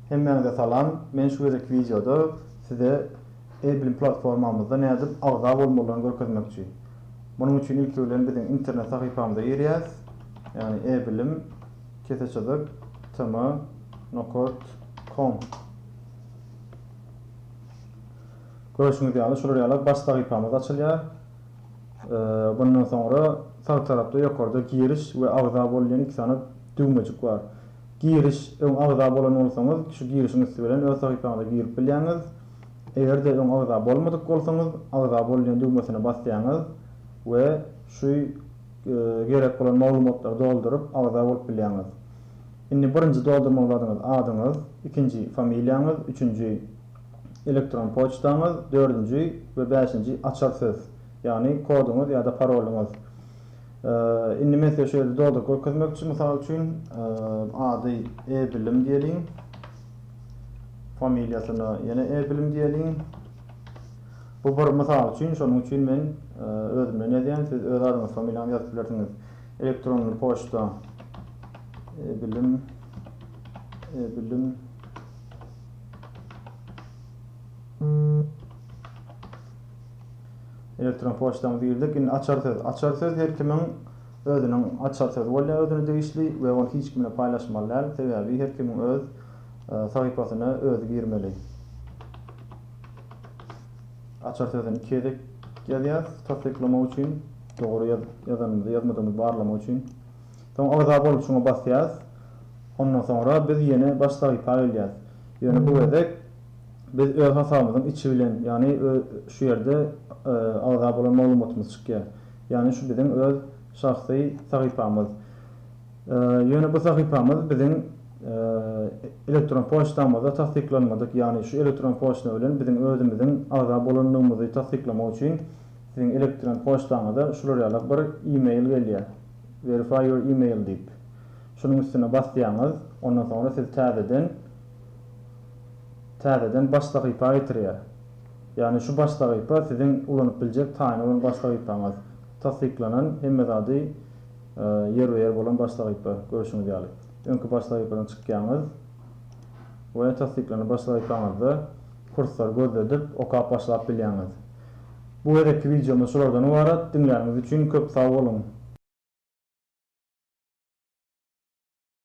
Hemmäňize salam, men şu gezekki wideoda size e-bilim platformamyzda nädip agza bolmalydygyny görkezmekçi. Munuň üçin ilki bilen biziň internet sahypamyza girýäs, ýagny e-bilim, kese çyzyk, tm, nokot, kom. Görşüňiz ýaly, şular ýaly baş sahypamyz açylýar. Mundan soňra sag tarapda ýokarda Giriş we Agza bol diýen iki sany düwmejik bar. Giriş, öň agza bolan bolsaňyz, şu girişiň üsti bilen öz sahypaňyza girip bilýäňiz. Eger-de öň agza bolmadyk bolsaňyz, Agza bol diýen düwmesine basýaňyz we şu gerek bolan maglumatlary dolduryp, agza bolup bilýäňiz. Indi birinji doldurmaly zadyňyz adyňyz, ikinji familiýaňyz, üçünji elektron poçtaňyz, dördünji we bäşinji açar söz, ýagny koduňyz ýa-da parolyňyz. Indi men size şu ýerde dolduryp görkezmek üçin, mysal üçin, ady E-bilim diýeliň, familiýasyna ýene E-bilim diýeliň. Bu bir mysal üçin, şonuň üçin men özümden ýazýan, siz öz adyňyzy, familiýaňyzy ýazyp bilersiňiz. Elektron poçta, E-bilim, E-bilim. Elektron poçtaňyzy girdik. Indi açar söz. Açar söz her kimiň özüniň açar sözi bolýar özüne degişli we ony hiç kim bilen paýlaşmaly däl. Sebäbi her kimiň öz sahypasyna özi girmeli. Açar sözüni iki gezek ýazýas, tassyklamak üçin, dogry ýazanymyzy ýazmadygymyzy barlamak üçin. Soň agza boluşyňy basýas. Ondan soňra biz ýene baş sahypa gelýäs. Ýöne bu gezek biz öz hasabymyzyň içi bilen, ýagny şu ýerde agza bolan maglumatymyz çykýar. Ýagny şu biziň öz şahsy sahypamyz. Ýöne bu sahypamyz biziň elektron poçtamyzda tassyklanmadyk, ýagny şu elektron poçta bilen biziň özümiziň agza bolandygymyzy tassyklamak üçin siziň elektron poçtaňyza şular ýaly bir e-mail gelýär. Verify your email diýip, şunuň üstüne basýaňyz, ondan soňra siz täzeden täzeden baş sahypa getirýär. Ýagny şu baş sahypa siziň ulanyp biljek taýyn bolan baş sahypaňyz. Tassyklanan, hemme zady ýerbe-ýer bolan baş sahypa, görşüňiz ýaly. Öňki baş sahypadan çykýaňyz we tassyklanan baş sahypaňyzda kursory gözledip, okap başlap bilýäňiz. Bu gezekki wideomyz şulardan ybarat, diňläniňiz üçin köp sag boluň!